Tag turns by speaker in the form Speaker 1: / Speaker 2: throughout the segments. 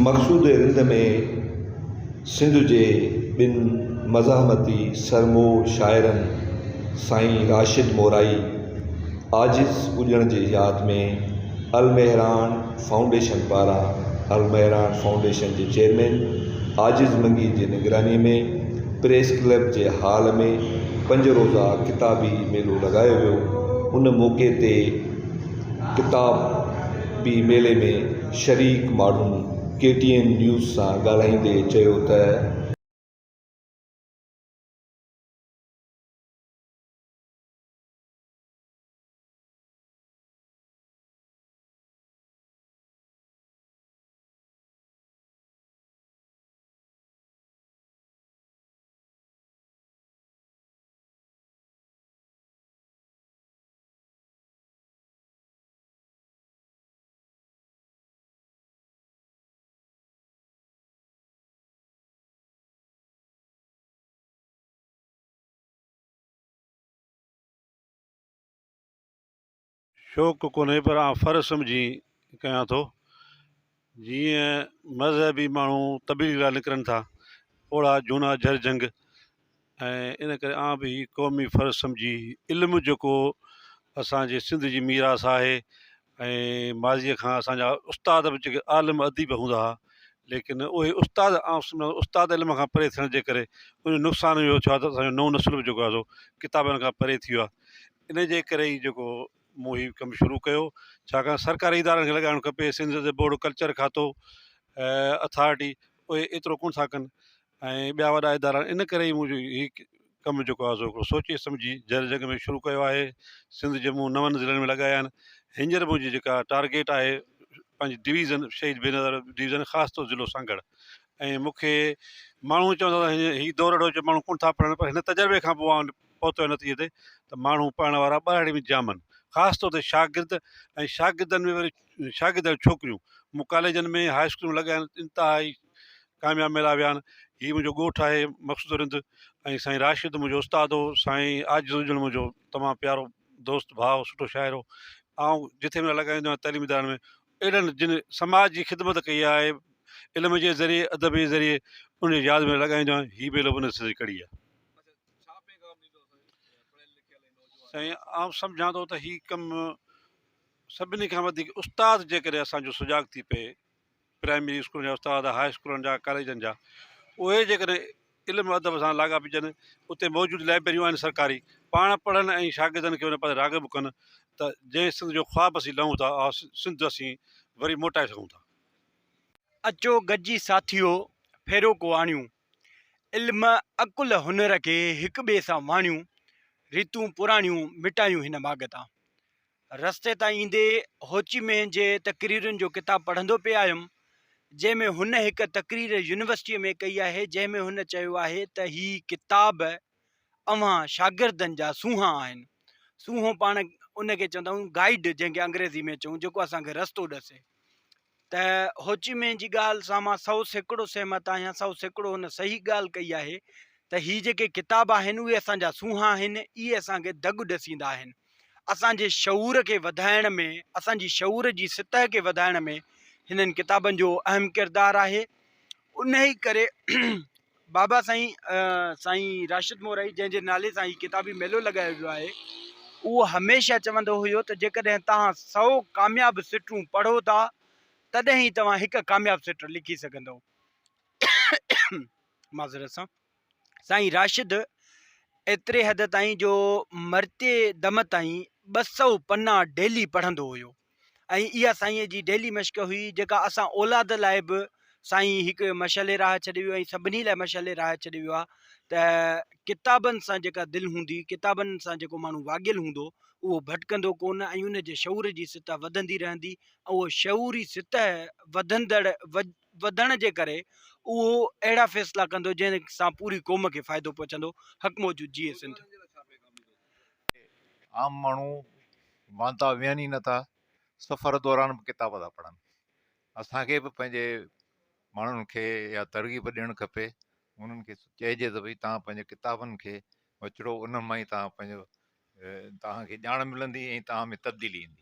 Speaker 1: مقصوده رند ۾ سنڌ جي ٻن مزاحمتي سرمو شاعرن سائين راشد مورائي عاجز ٻڄڻ جي ياد ۾ المهراڻ فائونڊيشن پاران المهراڻ فائونڊيشن جي چيئرمين عاجز منگي جي نگراني ۾ پريس ڪلب جي هال ۾ پنج روزه ڪتابي ميلو لڳايو ويو ان موقعي تي ڪتاب بي ميلي ۾ شريڪ ماڻهن ڪي ٽي اين نيوز سان ڳالهائيندي چيو ته.
Speaker 2: شوق ڪونهي پر آن فرض سمجهي ڪيان ٿو. جيئن مذهبي ماڻهو تبليغ لاء نڪرن ٿا، پوڙها جهونا جهر جهنگ ۽ ان ڪري آئون به هي قومي فرض سمجهي علم جيڪو اسان جي سنڌ جي ميراث آهي ۽ ماضيء کان اسان جا استاد به جيڪي عالم اديب هوندا ها ليڪن اهي استاد آئون سمجهان ٿو استاد علم کان پري ٿيڻ جي ڪري ان جو نقصان اهو ٿيو آهي ته اسان جو نئون نسل به جيڪو آهي سو ڪتابن کان پري ٿي ويو آهي ان جي ڪري ئي جيڪو مون هي ڪم شروع ڪيو ڇاڪاڻ سرڪاري ادارن کي لڳائڻ کپي سنڌ جي بورڊ ڪلچر کاتو اٿارٽي اهي ايترو ڪونه ٿا ڪن ۽ ٻيا وڏا ادارا ان ڪري ئي منهنجو هي ڪم جيڪو آهي سو هڪڙو سوچي سمجهي جر جڳ ۾ شروع ڪيو آهي سنڌ جي مون نون ضلعن ۾ لڳايا آهن هينئر منهنجي جيڪا ٽارگيٽ آهي پنهنجي ڊويزن شهيد بينظر ڊويزن خاص طور ضلعو سانگهڙ ۽ مون کي ماڻهو چوندا هي دور اهڙو جو ماڻهو ڪونه ٿا پڙهن پر هن تجربي کان پوء پهتو آهي نتيجي تي ته ماڻهو پڙهڻ وارا ٻهراڙي ۾ ڄامن، خاص طور تي شاگرد ۽ شاگردن ۾ وري شاگرد ۽ ڇوڪريون. مون ڪاليجن ۾ هاء اسڪول ۾ لڳايا آهن، انتهائي ڪامياب ميلا ويا آهن. هي منهنجو ڳوٺ آهي مقصود رند ۽ سائين راشد منهنجو استاد هو، سائين عاجز اجڙ منهنجو تمام پيارو دوست، ڀاء، سٺو شاعر هو. آئون جٿي ميلا لڳائيندو آهيان تعليمي ادارن ۾ اهڙن جن سماج جي خدمت ڪئي آهي، علم جي ذريعي، ادب جي ذريعي، انهن جي ياد ۾ لڳائيندو آهيان، هي ميلو به ان سلسلي جي ڪڙي آهي. سائين آئون سمجهان ٿو ته هي ڪم سڀني کان وڌيڪ استاد جي ڪري اسان جو سجاڳ ٿي پئي پرائمري اسڪولن جا استاد هاء اسڪولن جا ڪاليجن جا اهي جيڪڏهن علم ادب سان لاڳا پجن اتي موجود لائبريون آهن سرڪاري پاڻ پڙهن ۽ شاگردن کي ان پاسي راغب ڪن ته جنهن سنڌ جو خواب اسين لهون ٿا اها سنڌ اسين وري موٽائي سگهون ٿا. اچو
Speaker 3: گڏجي ساٿيو ڦيرو ڪو آڻيون. علم عقل هنر کي هڪ ٻئي سان واڻيون ريتون پراڻيون مٽايون هن ماڳ تان. رستي تان ايندي هوچي مينهن جي تقريرن جو ڪتاب پڙهندو پئي آيم جنهن ۾ هن هڪ تقرير يونيورسٽيء ۾ ڪئي آهي جنهن ۾ هن چيو آهي ته هي ڪتاب اوهان شاگردن جا سونهان آهن سونهون پاڻ ان کي چوندا آهيون گائيڊ جنهن کي انگريزي ۾ چئون جيڪو اسان کي رستو ڏسي ته هوچي مين جي ڳالهه سان مان سو سيڪڙو سهمت آهيان، سو سيڪڙو هن صحيح ڳالهه ڪئي آهي ته هي جيڪي ڪتاب آهن اهي اسان جا سونهان آهن، اهي اسان کي دڳ ڏسيندا آهن، اسان جي شعور کي وڌائڻ ۾ اسان جي شعور جي سطح کي وڌائڻ ۾ هنن ڪتابن جو اهم ڪردار آهي، انهيء ڪري بابا سائين سائين راشد مورائي جنهن جي نالي سان هي ڪتابي ميلو لڳايو ويو آهي اهو هميشه چوندو هيو ته جيڪڏهن توهان سئو ڪامياب سٽون پڙهو ٿا تڏهن ئي توهان هڪ ڪامياب سٽ لکي سگهندئو معذرت سان سائين راشد ايتري حد تائين جو مرتي دم تائين ٻه سؤ پنا ڊيلي پڙهندو هيو ۽ اها سائينء جي ڊيلي مشق هئي جيڪا اسان اولاد لاء به سائين هڪ مشعل راهه ڇڏي ويو ۽ سڀني لاء مشعل راهه ڇڏي ويو آهي ته ڪتابن سان جيڪا دل هوندي ڪتابن سان جيڪو ماڻهو واڳيل هوندو اهو ڀٽڪندو ڪونه ۽ ان جي شعور جي سطح وڌندي رهندي ۽ اهو شعوري سطح وڌندڙ وڌڻ جي ڪري اهو اهڙا فيصلا ڪندو جنهن سان پوري قوم کي فائدو پهچندو حق موجود جيئي سنڌ.
Speaker 4: عام ماڻهو وانتا ويهن ئي نٿا سفر دوران به ڪتاب ٿا پڙهن اسان کي به پنهنجي ماڻهن کي اها ترغيب ڏيڻ کپي انهن کي چئجي ته ڀئي توهان پنهنجي ڪتابن کي وچڙو انهن مان ئي توهان پنهنجو توهان کي ڄاڻ ملندي ۽ توهان ۾ تبديلي ايندي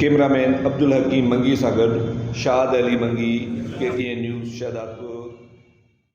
Speaker 1: ڪيمرا مين عبدالحڪيم منگي سان گڏ Shad Ali Mangi, K T N news, Shahdadpur.